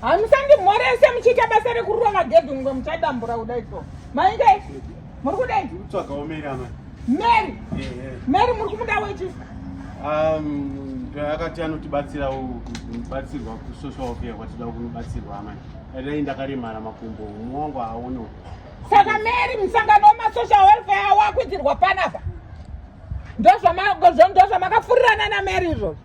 hamusandimhorese muchiita basa rekurova magedhi mumwe muchadambura kuda iso mainge muri kudai mary mary muri kumuda wechi um, akati anotibatsira kubatsirwa kusocial welfare kwatida kunobatsirwa amai dai ndakaremara makumbo umwe wangu haaonewo saka mary musangano wemasocial welfare awakuitirwa panapa ndozvamakafurirana namary izvozvo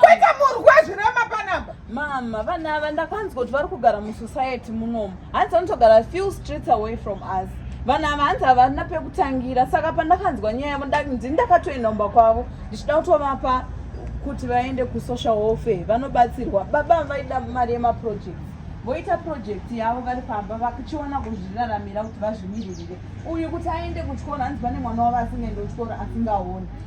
Kwete murwi wezvirema panapa. Mama, vana ava ndakanzwa kuti vari kugara musociety munomu. Hanzi vanotogara few streets away from us. Vana ava hanzi havana pekutangira saka pandakanzwa nyaya yavo ndini ndakatoenda kumba kwavo ndichida kutovapa kuti vaende kusocial welfare vanobatsirwa. Baba vaida mari yemaproject voita project yavo vari pamba vachiona kuzviraramira kuti vazvimiririre. Uyu kuti aende kuchikoro hanzi pane mwana wavo asingaende kuchikoro asingaoni.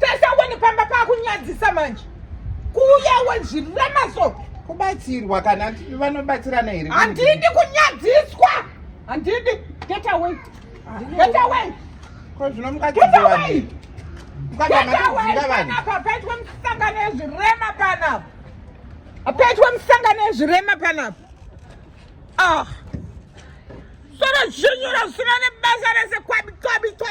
Tesa wani pamba pakunyadzisa manje. Kuuya wezvirema so. Kubatsirwa kana vanobatsirana here? Handidi kunyadziswa. Handidi. Get away. Get away. Ko zvinomukadzidza wani? Get away. Get away. Papaitwe musangano ezvirema panapa. Apaitwe musangano ezvirema panapa. Ah. Solo zvinyura zvisina nebasa rese kwabi kwabi kwabi.